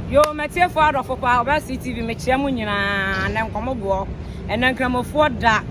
Yo, m'atiefoɔ adɔfo paa, Ɔbaa CTV, mekyea mo nyinaa, ɛnɛ nkɔmmɔboɔ, ɛnɛ nkramofoɔ da,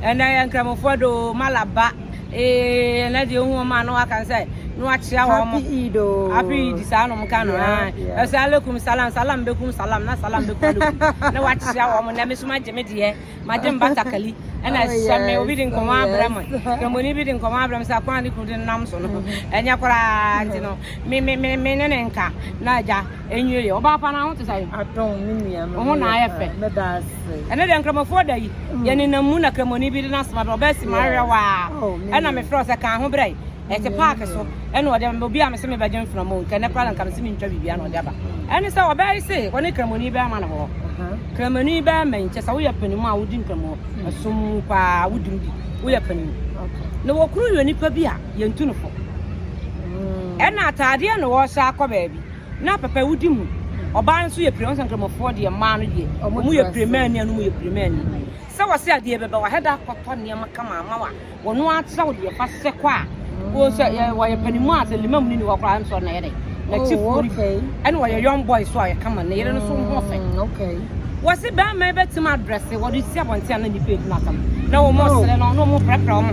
ɛnɛ yɛ nkramofoɔ da o, malaba, ee, ɛnɛ deɛ ohu wɔn a na waka sɛ, na wakyea wɔn. Happy Eid o. Happy Eid, saa nom ka no, ae. Ɛsɛ alaikum salam, salam bɛkum salam, na salam bɛkum alaikum, na wakyea wɔn, na me nso magye me deɛ. Magye mbatakali na hyɛ me. Obi de nkɔmɔ abrɛ me. Kramoni bi de nkɔmɔ abrɛ me sɛ akwan a ne kunu de no nam so no. Ɛnyɛ koraa nti no. Me me me me ne ne nka na agya enwie yɛ. Ɔbaa pa na ho te sɛ. Adom me nua me. Ho na ayɛ fɛ. Meda ase. Ɛne deɛ nkramofoɔ da yi. Yɛ ne nam mu na kramoni bi de no asoma do. Ɔbaa si ma ahwɛ waa. Ɛna me frɛ sɛ kan ho brɛ. Ɛte park so ɛna ɔde ama obi a mese mebɛgye mframa o nka ɛnɛ koraa na nka mese mentwa biribiara na ɔde aba ɛne sɛ ɔbɛyɛ se ɔne kramoni bɛrima no hɔ kramoni bɛrima yi kyɛ sɛ woyɛ panim a wodi nkramu ɛsom mu paa wodi mu bi woyɛ panim na wɔkuru yɛ nipa bi a yɛntu no fo ɛna ataadeɛ na wɔhyɛ akɔ baabi na pɛpɛ wodi mu ɔbaa nso yɛ pire sɛ nkramofoɔ deɛ mmaa no deɛ ɔmo yɛ pire mmaa ni anum yɛ pire mmaa ni sɛ wɔse adeɛ bɛbɛ wɔ hɛda akɔtɔ nneɛma kama ama wa wɔn akyerɛw deɛ ɛfa sɛ kɔ a wɔsɛ yɛ wɔyɛ panimu a sɛ limam ne ni hɔ koraa nsɔ na yɛ dɛ na ti oh, kuri ɛna wɔyɛ young boy so a yɛ kama na yɛrɛ no so ho fɛ mm, wɔsi bɛrima yɛ bɛtumi adrɛse wɔde si abɔnten a na nipa edu na asɛm na wɔn oh. ɔsere no na wɔn pɛrɛpɛrɛ wɔn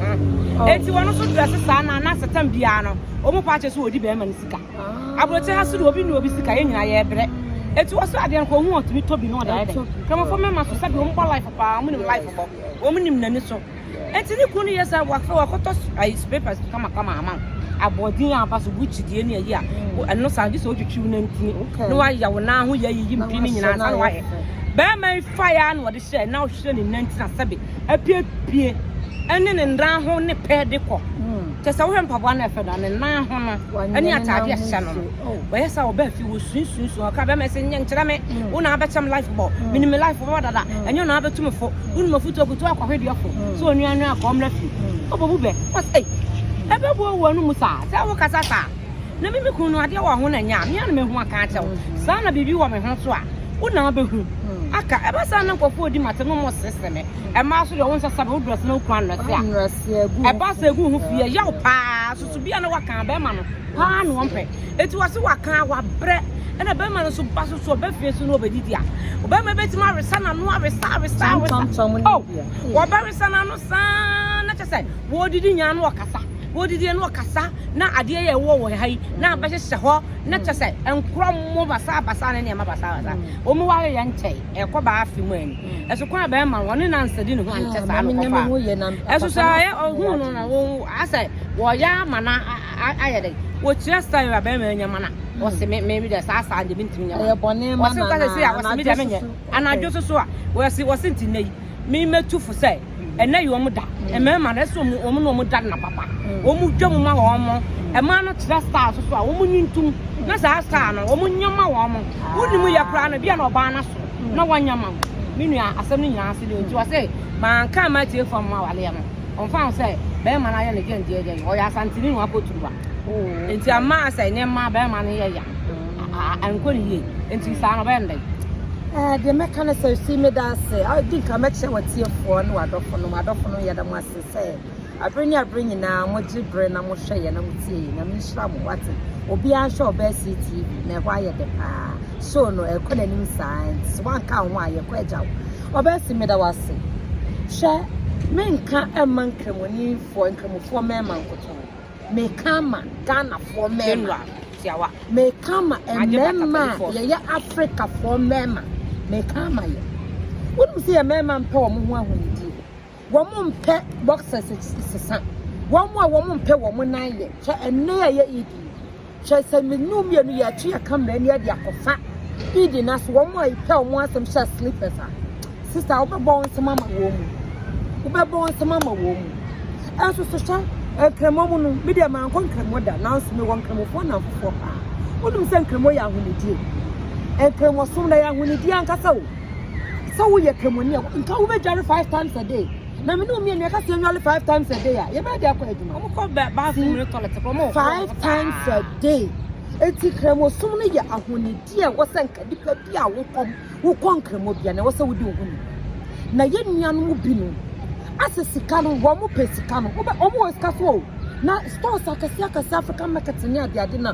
ho oh. eti wɔn nso drɛse saa na na sɛtɛm biara no wɔn pa akyɛ so wɔdi bɛrima no sika ah. aburokye ha so de obi ne obi sika yɛ nyinaa yɛ brɛ eti wɔsɔ adeɛ no kɔ ohun ɔtumi tobi na ɔda yɛ dɛ kramofo mɛma so sɛbi wɔn bɔ life paa wɔn nim life bɔ wɔn nim n'ani so. Enti ne kunu no yɛ saa wakɔ wakɔtɔ ayi slippers kama kama ama aboɔden a aba so gucci deɛ ne ayi a ɛno saa gye sɛ wotwitwi wo nantini na wayɛ wo nan ho yɛ ayiyi mpi ne nyinaa sa na wayɛ bɛrima yi faeɛ a na wɔde hyɛ na ɔhwɛ ne nanti na sɛbe apiepie ɛne ne nan ho ne pɛ de kɔ kyɛ sɛ wohwɛ mpaboa no ɛfɛ no ne nan ho no ɛne ataade a ɛhyɛ no no Oh, bɛyɛ sɛ ɔbɛ fi wo sun sun sun ɔka bɛma ɛsɛ nyɛ nkyerɛ me mm. wo na abɛkyɛ me life bɔ mm. menim me life bɔ dada mm. ɛnyɛ na abɛtu me fo wonim afutu akutu akɔhwe deɛ fo sɛ onua no akɔ mmra fi ɔbɔbu bɛ ɔsɛ ɛbɛbu ɔwɔ no mu saa sɛ wo kasa saa na mimi kun no adeɛ wɔ ho na nya mea na mehu aka akyɛ wo saa na biribi wɔ me ho so a wo na abɛhu aka ɛbɛ saa na nkɔfoɔ di mate no mmɔ sesɛ me ɛmaa so deɛ wo nsɛ sɛbe wo drɛs na wokura nnɔse a ɛba sɛ ɛgu ho fie ɛyɛ wo paa soso bia na waka bɛrima no Paa na wɔmpɛ. Enti wɔse wakan, wabrɛ. Ɛna barima no nso ba so so ɔba fie so na ɔbɛdidi a, ɔbarima bɛtumi awesa n'ano, awesa, awesa, awesa. Oh, wɔbɛwesa n'ano saa na kyɛ sɛ wɔredidi nyaa na ɔkasa. Wɔredidi na ɔkasa na adeɛ yɛ ɛwɔ wɔ ha yi na abɛhyehyɛ hɔ na kyɛ sɛ nkorɔmo basaa basaa ne nneɛma basaa basaa. Wɔn ware yɛ nkyɛe, ɛkɔ baa afe mu ani. Ɛso kwan a bɛrima no ɔne nansa di ne ho ankyɛ saa na ɔkɔfaa. Ɛso sɛ ɔyɛ ɔhuu no na wɔn asɛ wɔyɛ ama na. ayɛ dɛn? Okyerɛ style a bɛrima nya ma na ɔse me me deɛ saa saa deɛ mentumi nyɛ ma. Ɛyɛ bɔne ma na na anadwo soso. Ɔse me deɛ menyɛ. Anadwo soso a ɔse ɔse nti nnɛ yi me mɛtu fo sɛ ɛnɛ yɛ wɔn da. Mmarima no ɛsɛ wɔn wɔn na wɔn da na papa. Wɔn dwa mu ma wɔn mo. Mmaa no kyerɛ style soso a wɔn nyi ntum na saa style no wɔn nyɛ ma wɔn mo. Wonni mu yɛ koraa no bia na ɔbaa no aso na wɔnyɛ ma wo. Me nua asɛm no nyinaa ase deɛ nti ɔse manka ama atiefo ama awaleɛ no. Ɔmmfa ho sɛ bɛrima no ayɛ ne dɛn deɛ dɛn, ɔyɛ Asanteni no apoturuwa. Nti amma sɛ nneɛma bɛrima no yɛ ya, ankɔ ne yie. Nti saa no ɔbɛyɛ no dɛn? Ɛɛ, deɛ mɛka ne sɛ, Sue meda ase. Di nka mɛkyerɛ w'atiefoɔ ne w'adɔfo no, m'adɔfo no, yɛda mo ase sɛ aberɛ ne aberɛ nyinaa mogye berɛ na mohwɛ yɛn na motie yɛn. Nyame nhyira mo, wate. Obiara nhwɛ Ɔbaa Sii TV, na ɛhɔ ayɛ dɛ paa. Show no, ɛrekɔ n'anim saa, nti sɛ woanka wo ho a, yɛkɔ agya wo. Ɔbɛɛ se, Meda wo ase. Hwɛ, menka mma Nkramoninfoɔ, Nkramofoɔ mmarima nkotoo. Meka ama Ghanafoɔ mmarima. Meka ama mmarima a yɛyɛ Afrikafoɔ mmarima. Meka ama yɛn. Wonim sɛ yɛn mmarima mpɛ wɔn ho ahonidie. wɔn mpɛ boxers sesa wɔn a wɔn mpɛ wɔn nan yɛ kyɛ ɛnna yɛ yɛ ed yi kyɛ sɛ mmienu mmienu yɛ akyi yɛ kamera ni ɛde akɔfa ed na so wɔn a epɛ wɔn asɛm hyɛ slippers a sista wobɛbɔ wɔn nsɛm ama wɔn mu wobɛbɔ wɔn nsɛm ama wɔn mu ɛnso so hyɛ nkremɔ mu no mi deɛ maa nkɔ nkremɔ da nanso mi wɔ nkremɔfoɔ na nfofoɔ paa wɔn nim sɛ nkremɔ yɛ ahonidie nkremɔ som na yɛ ahonidie ankasa o. sɛ woyɛ kɛmɔni a nka wobɛdware five times a day na mene omienu ɛka sɛ ɛnwale five times a day a yɛbɛyɛ de akɔ adwuma five times a day eti kramosom no yɛ ahonidi a ɛwɔ sɛ nka nipa bi a wokɔ wokɔ nkramo bia na ɛwɔ sɛ wodi ohoni na yɛ nuanom bi no asɛ sika no wɔn pɛ sika no wɔn wɔ sika so o na stores akɛse akɛse african market ne adeade na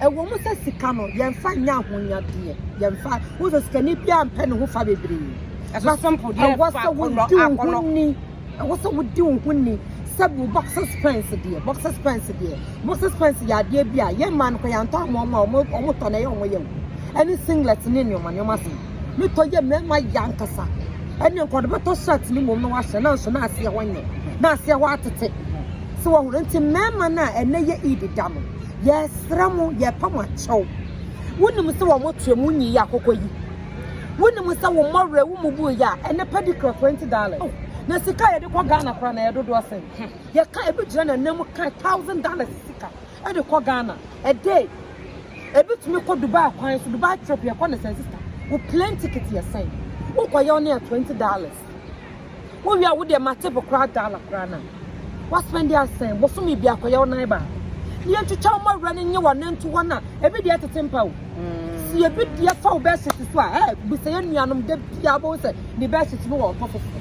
Ɛwɔ mu sɛ sika no, yɛmfa nyɛ ahonyadeɛ. Yɛmfa, wohu sɛ sikani biara mpɛ ne ho fa bebree. Ɛso simple deɛ ɛwɔ sɛ wodi wo ho ni. Ɛwɔ sɛ wodi wo ho ni. Sɛ wo boxers pants deɛ, boxers pants deɛ, boxers pants yɛ adeɛ bi a yɛn mmaa no kɔ yɛantɔ ama wɔn a wɔn wɔn tɔ na ɛyɛ wɔn yɛ wo. Ɛne singlet ne nneɛma nneɛma sɛ ne tɔ yɛ mmarima yɛ ankasa. Ɛne nkɔde bɛtɔ shirt ne mmom na wahyɛ na nso na aseɛ hɔ nyɛ na aseɛ hɔ atete. Sɛ wɔn nti mmarima no a ɛnɛ yɛ Eid da no. Yɛsrɛ mo, yɛpɛ mo akyɛw. Wonim sɛ wɔn toa mu nyi yɛ akokɔ yi. Wonim sɛ wo mmɔwerɛ wo mu buu yɛ a ɛnɛ padi kura twenty dollars. Oh, na sika a yɛde kɔ Ghana koraa na yɛ dodoɔ sɛn? Hmm. Yɛka ebi gyina na nan mu ka thousand dollars sika ɛde kɔ Ghana. Ɛdɛ ebi tumi kɔ Dubai kwan so Dubai trip yɛkɔ ne sɛn sista. Wo plane ticket yɛ sɛn? Wokɔ yɛ ɔne a twenty dollars. Wo wia wo deɛ mate bo koraa Dala koraa na Wa spend asɛn bosome biako yɛ wo nan baako Ne yɛ ntwitwa wo mawura ne nye wa nan tu hɔ na Ebi deɛ tete mpa o Si ebi deɛ fa wo bɛsi si so a eh Bisa yɛ nuanom de bia bo sɛ ne bɛsi si no wɔ ɔtɔ foforɔ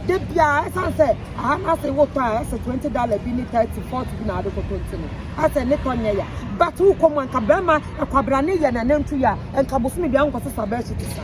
De bia esan sɛ aha na se wo tɔ a ɛsɛ 20 Dala bi ne 30 40 bi na ade koto nti no Asɛ ne tɔ nyɛ ya But wo kɔ mu anka bɛma ɛkwabra ne yɛ na nan tu yɛ a Nka bosome bia nkɔ so sa bɛsi si saa.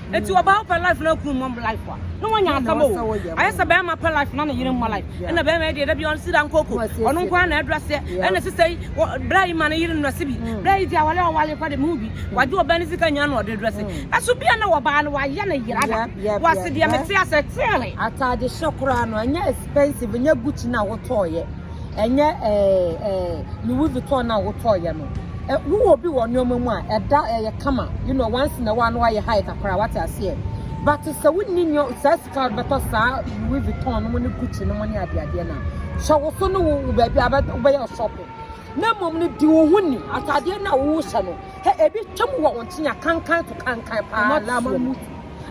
Eti ɔbaa wopɛ life na kunu mmɔ life a na wanya asɛm o ayɛ sɛ bɛrima pɛ life na ne yere mmɔ life ɛna bɛrima yɛ deɛ da bi ɔno si da nkoko ɔno nko ara na ɛdura seɛ ɛna sisa yi bra yi ma ne yere nnura se bi bra yi ti awale a ɔwale kɔ de mu bi wagye ɔbaa ne sika nya na ɔde dura se ɛso bia na wɔbaa no wayɛ ne yere ada wɔase deɛ mete asɛ teere ataade hyɛ koraa no ɛnyɛ expensive nyɛ gucci na wotɔɔyɛ ɛnyɛ ɛɛ ɛɛ Louis Vuitton na wotɔɔyɛ no wowɔ obi wɔ nneɛma mu a ɛda ɛyɛ kama you know once in a while no ayɛ high kakra wate aseɛ but sɛ wonni nneɛ saa sika bɛtɔ saa Louis Vuitton no mu ne Gucci no mu ne adeadeɛ no a hyɛ wo so ne wo baabi a wobɛyɛ shopping na mmom no di wo ho ni atadeɛ no a wohyɛ no hɛ ebi twam wɔ wo nkyɛn a kankan to kankan paa lama mu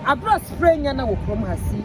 aberɛ a spray nyɛ na wɔ kurom ha si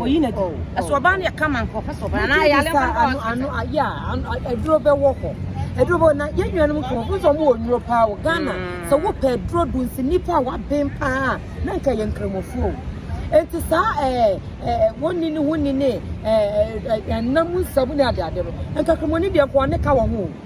oyi na di ɛso ɔbaa no yɛ kama nka ɔpɛ sɛ ɔbaa na ayale mfa nka ɔsɛ ano ayɛ a aduro bɛwɔ hɔ aduro bɛwɔ na yɛn nuanom kɔ ɔmo sɛ ɔmo wɔ nnuro paa wɔ Ghana mm. sɛ wopɛ aduro do nsi nipa a waben paa na nka yɛ nkramofoɔ o nti saa ɛɛ eh, ɛɛ eh, wɔn ni ne ho ni ne ɛɛ eh, ɛnam nsamu ne adeade no nka kramoni deɛ nka ɔne ka wɔ ho o.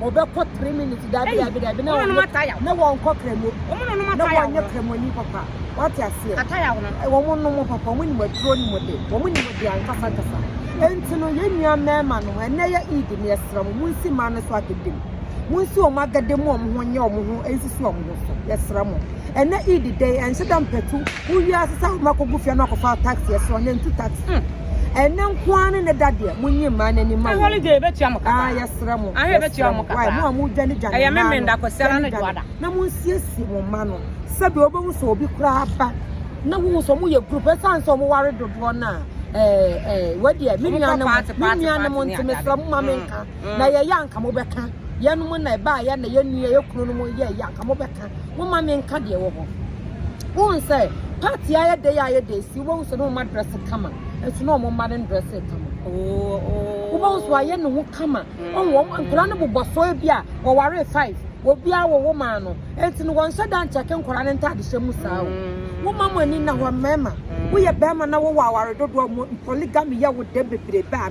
wɔbɛkɔ three minutes dabi dabi dabi na wɔn na wɔn kɔ kremo na wɔn nyɛ kremo ni papa wate aseɛ eh, wɔn nom papa wɔn nim aduro nim de wɔn nim de ankasa kasa nti no yɛn nua mɛɛma no ɛnɛ yɛ eid ne ɛsra mu mu nsi maa no so agede mu mu nsi wɔn agede mu wɔn ho nyɛ wɔn ho nsisi wɔn ho so yɛsra mu ɛnɛ eid dɛ ɛnhyɛ dɛ mpɛtu. Wo wiase sa wo ma kogu fia no akɔfa wo taxi ɛso ɔne ntu taxi. Hmm. Ɛne nko ara ne ne da deɛ mo nyi mmaa n'ani ma wo. Holiday ebetua mo kaka. Ah yɛsrɛ mo. Ah ebetua mo kaka. Mo a mo dwane dwane mmaa no. Ɛyɛ me menda kɔsɛla ne duada. Na mo nsiesie mo mma no. Sɛbi obehu sɛ obi koraa ba. Na wohu sɛ wɔn yɛ group ɛsan sɛ wɔn ware dodoɔ no a ɛɛ ɛɛ wɔdeɛ me nua no mo me nua no mo nti mesrɛ mo ma me nka na yɛyɛ anka mo bɛka yɛn mo na ɛbaa yɛ na yɛn nua yɛ kunu no mo yɛ yɛ anka mo bɛka. Momma me nka deɛ ɛwɔ hɔ. Wohu sɛ part yi ayɛ dɛ yi ayɛ dɛ si wobɛhu sɛ ne ɔma dress kama nso ne ɔmo mma ne dress kama wobɛhu sɛ wayɛ ne ho kama ɔhu wɔn nkwadaa no bobɔ so ebi a wɔware five obiara wɔ wɔn ano eti no wɔn nhyɛ da nkyɛke nkwadaa no ntaade hyɛ mu saa o mo ma mo ani na hɔ mmarima woyɛ barima na wowɔ aware dodoɔ mo polygamy yɛ wo dɛ bebrebe a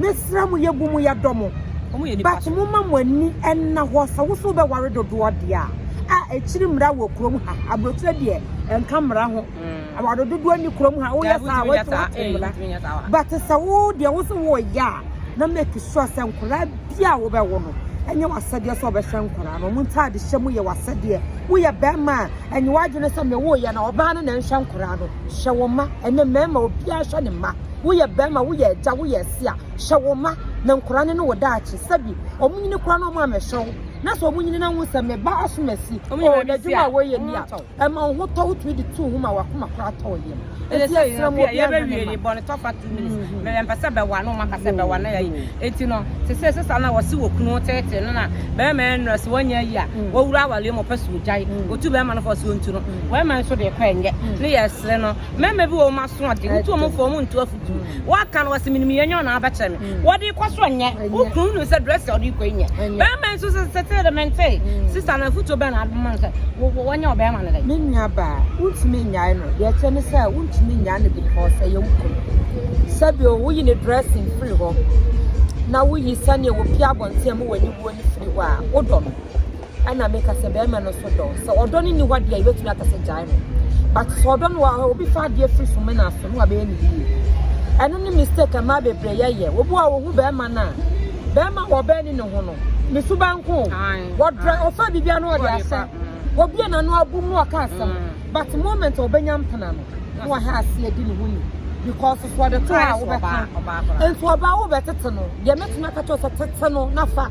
Mesrɛ mo, yɛbu mo, yɛdɔ mo, but momma mo ani nna hɔ. Sɛ wo so wobɛware dodoɔ deɛ a, a ɛkyiri mmara wɔ kurom ha. Aburokyerɛ deɛ ɛnka mmara ho. Aware dodoɔ nni kurom ha. Woyɛ saa a, wote wote mmara. But sɛ wo deɛ wo so woyɛ a, na make sure sɛ nkwadaa bi a wobɛwo no, ɛnyɛ w'asɛdeɛ sɛ ɔbɛhwɛ nkwadaa no. Wɔn ntaade hyɛ mu yɛ w'asɛdeɛ. Woyɛ bɛrima a, ɛnyɛ w'adwene sɛ mewoeɛ na ɔbaa no na ɛnhwɛ nkwadaa no. Hyɛ wo mma, ɛnɛ mmarima obiara hwɛ ne mma. Woyɛ bɛɛma, woyɛ agya, woyɛ ɛse a, hwɛ wo mma na nkora no ne wo daakye. Sɛbi, ɔmo nyini koraa na ɔmo amɛhwɛ wo. Na sɛ ɔmo nyini na wohu sɛ me ba asom asi, oo, n'adwuma a wɔyɛ ni a, ɛma wo ho tɔ, wotumi de tu wo ho ma w'akoma koraa tɔ wo yam. Enti yɛsrɛ mo, obiara nhwɛ ne mma. Bɔne tɔfa two minutes. Mɛ yɛmpɛ sɛ bɛwa no, ɔmo aka sɛ bɛwa no ayi. Enti no, te sɛ sesa no a wɔse wɔ kunu ho teetee no na bɛɛma yɛ nnura sɛ wanya ayi a, wawura awareɛ mu ɔpɛ sɛ ogyae, otu bɛɛma no fɔ sɛ ontu no. Bɛɛma nso deɛ kɔ ɛnyɛ. Ne yɛsrɛ no, Mmarima bi wɔ wɔn aso ade, wotu wɔn fɔ wɔn ntu afutu. Waka no wɔsi minim yɛn nyɛ na abɛkyerɛ me. Wɔde kɔ so nyɛ. Wokunu nim sɛ dress a ɔde kɔ nyɛ. Bɛrima nso sɛ sɛte de mente. Sista na afutu bɛn na ade ma no sɛ wɔnyɛ ɔbɛrima no dɛ. Me nua baa, wontumi nyae no. Deɛ ɛkyɛ ne sɛ wontumi nyae no because ɛyɛ wo kunu. Sɛbio woyi ne dressing firi hɔ na woyi sɛdeɛ wɔpie abɔnten mu wɔ aniwuo no firi hɔ a, wodɔ no. ɛna meka sɛ bɛrima no so dɔ sɛ ɔdɔ no nni hɔ deɛ yɛbɛtumi aka sɛ gyae no but sɛ ɔdɔ no wɔ obi fa adeɛ firi so mena so no wabɛyɛ ne yie ɛno ne mistake mmaa bebree yɛyɛ wobu a wɔhu bɛrima no a bɛrima wɔ ɔbɛn ne ne ho no ne so bɛnko wɔdrɛ ɔfa biribia no ɔde asɛ obia n'ano abu mu ɔka asɛm mm. but moment a ɔbɛnya mpena no na wahɛ aseɛ di ne ho ni because sɛ ɔde to a wobɛka nti ɔbaa wobɛtete no deɛ mɛtumi aka kyɛw sɛ tete no na fa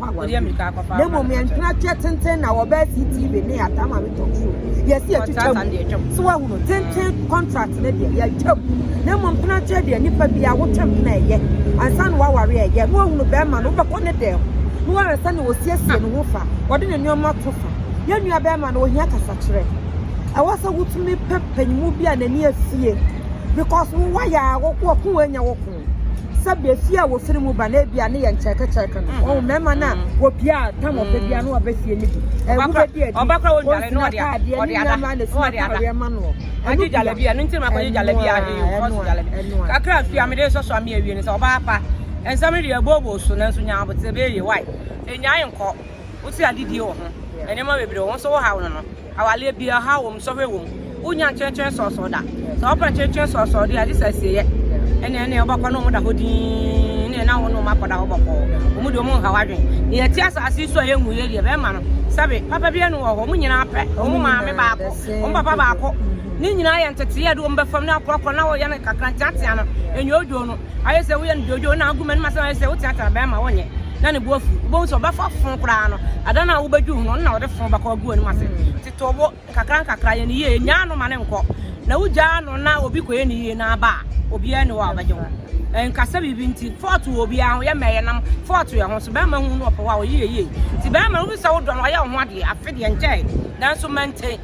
pa awareɛ mu na mmom yɛntwena kyɛ tenten na wɔbɛɛ CTV ne yɛataa ma me talk show yɛsi yɛtwitwa mu so wahunu tenten contract ne deɛ yɛatwa mu na mmom tena kyɛ deɛ nipa bi a wotwa mu na ɛyɛ ansa na wawareɛ ɛyɛ na wahunu bɛrima no wobɛkɔ ne dɛm na wɔyɛ sɛ na wɔsiesie ne ho fa wɔde ne nneɛma to fa yɛn nua bɛrima no ohia kasakyerɛ ɛwɔ sɛ wotumi pɛ panyimu bi a n'ani afie because wo wayɛ a wɔko wɔko wɔanya wɔko ho. Sɛbea fie a wɔfiri mu ba no ebia ne yɛ nkyɛrkɛkyɛrkɛ no, wɔn mmarima no a wɔpia a tam wɔpɛ bia no wɔbɛ fie no bi. Ɛho bɛdi adi, wɔn sini ataadeɛ ne nneɛma a na sini ataadeɛ ma noɔ. Ɛno bia, ɛnoa, ɛnoa, ɛnoa. Kakra fie a mede sɔsɔ ame awie no sɛ ɔbaa pa. Nsɛm no deɛ ɛbooboo so nanso nyaa abotire bɛyɛ yie. Why? Ɛnyaa nkɔ. Wosi adidie wɔ ho. Nneɛma bebree wɔ ho. Wo nso wohaw no no. Awaleɛ bia ɔhaw wɔ mu, sɔhwɛ wɔ mu. Wonnya nkyerɛkyerɛ sɔɔsɔɔ da. Sɛ wɔpɛ nkyerɛkyerɛ sɔɔsɔɔ deɛ a, gye sɛ asieyɛ. Ɛne ɛne wobɛkɔ ne wɔn da hɔ dinn ne na wo ne wɔn akɔda hɔ bɔkɔɔ. Wɔn deɛ wɔn nha w'adwene. Deɛ ɛte asase yi so a yɛnhu yɛ deɛ bɛrima no sɛbe papa biara ne wɔ hɔ. Wɔn nyinaa pɛ wɔn maame baako, wɔn papa baako. Ne nyinaa yɛ nteteeɛ a ɛde wɔn bɛfam ne akorɔkorɔ na wɔyɛ no kakra nteatea no, ɛnyɛ odwo no. Ayɛ sɛ woyɛ no dwoodwoo na agu m'anim asɛm ayɛ sɛ woteatea bɛrima wonyɛ na ne bo afu. Wobɛhu sɛ ɔbɛfa fo koraa no, ada no a wobɛdwu ho no, ɔno na ɔde fo bɛkɔ agu w'anim ase. Tete wo nkakra nkakra, yɛ no yie, nyaa no ma no nkɔ. Na wogyaa no na obi kɔyɛ no yie na aba a, obiara nni hɔ a ɔbɛgye wo. Ɛnka sɛ biribi nti, fɔɔto wɔ obiara ho, yɛ mmɛ yɛnam fɔɔto yɛn ho so. Bɛrima hu no ɔpɛ hɔ a, ɔyɛ yɛ yie. Nti bɛrima no, wohu sɛ wodɔ no, ɔyɛ wo ho adeɛ. Afe deɛ nkyɛe, nanso maintain.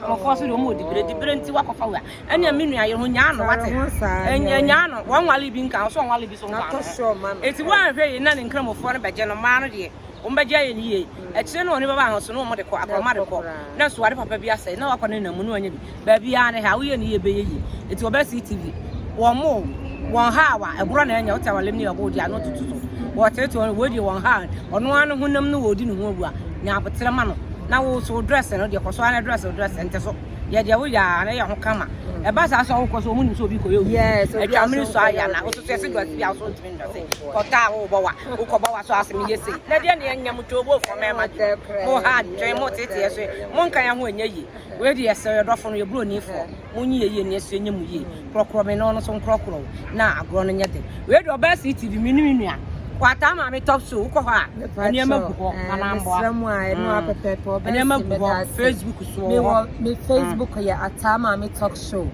Wɔkɔɔ so de wɔn ɔdi bere, di bere nti wakɔfa wei a, ɛnea me nua yere ho nyaa no wate. Nyaa no, wɔn nwale bi nka, ɔsɔ nwale bi so nka no. Eti wɔanhwɛ yie na ne nkramofoɔ no bɛgye no, mmaa no deɛ, wɔn bɛgye ayɛ no yie. Akyire no wɔn bɛba ahoso no wɔn de kɔ, akorɔma de kɔ. Na nso ade papa bi asɛe, na wakɔ ne nna mu na wanya bi. Baabi ara ne ha, woyɛ ne yie ɛbɛyɛ yie. Eti wɔbɛ CTV, wɔn mo, wɔn ha awa, ɛborɔ na ɛnyɛ, wote awalem ne ɛbo deɛ ano tutu so. Wɔteete wɔn, wei deɛ wɔn ha, ɔno ara ne honam no wɔdi ne ho agu a. nya aboterɛ ma no na wo so wo dress no deɛ kɔ so ara na dress wo dress nte so yɛ deɛ woyɛ a na yɛ ho kama ɛba saa so a wokɔ so ɔmo nim sɛ obi kɔyɛ obi atwa mene so ayɛ na woso so ɛse dress bi a woso ntumi ndrɛse kɔtɔ a wowobɔ wa wokɔbɔ wa so asɛm yɛ sei na deɛ ne ɛnyɛ mo too bo fɔ mɛma de mo ha dwen mo teteɛ so mo nka yɛ ho ɛnyɛ yie wei deɛ yɛsɛ yɛdɔfo no yɛburo nifoɔ Monyi yɛ yie na yɛsua nyɛ mu yie. Korɔkorɔ me na ɔno nso nkorɔkorɔ wo na agorɔ no nyɛ den. Wei deɛ ɔbaa CTV me ne me nua. Kwataa maame top so wokɔ hɔ a nneɛma gu hɔ na mamboa. Mesrɛ mu a ɛno a pɛpɛɛpɛ ɔbaa Nneɛma gu hɔ Facebook so wɔ hɔ. Me Facebook yɛ Ataa Maame Talk Show.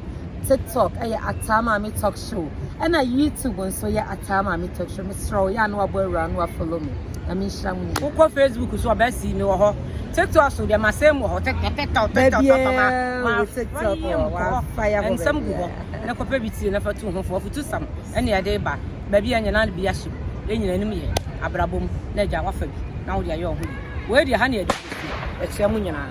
TikTok ɛyɛ Ataa Maame Talk kyew ɛna YouTube nso yɛ ataa maame tɔtro mesrɛ wo yɛ a na wabɔ awura no wa follow me nyame nhyira mu nyina wokɔ Facebook so ɔbɛ si me wɔ hɔ TikTok so deɛ masɛm wɔ hɔ TikTok TikTok TikTok TikTok ma ma wayɛ mu kɔ hɔ ɛnsɛm gu hɔ na kɔpɛ bi tie na fa tu ho fo afutu sam ɛne ɛde ba baabi a nyina bi ahyɛ mu yɛ nyina anim yɛ abrabɔ mu na agya wafa bi na wode ayɛ ɔho bi wei deɛ ha ne ɛde ɛkyerɛ mu nyinaa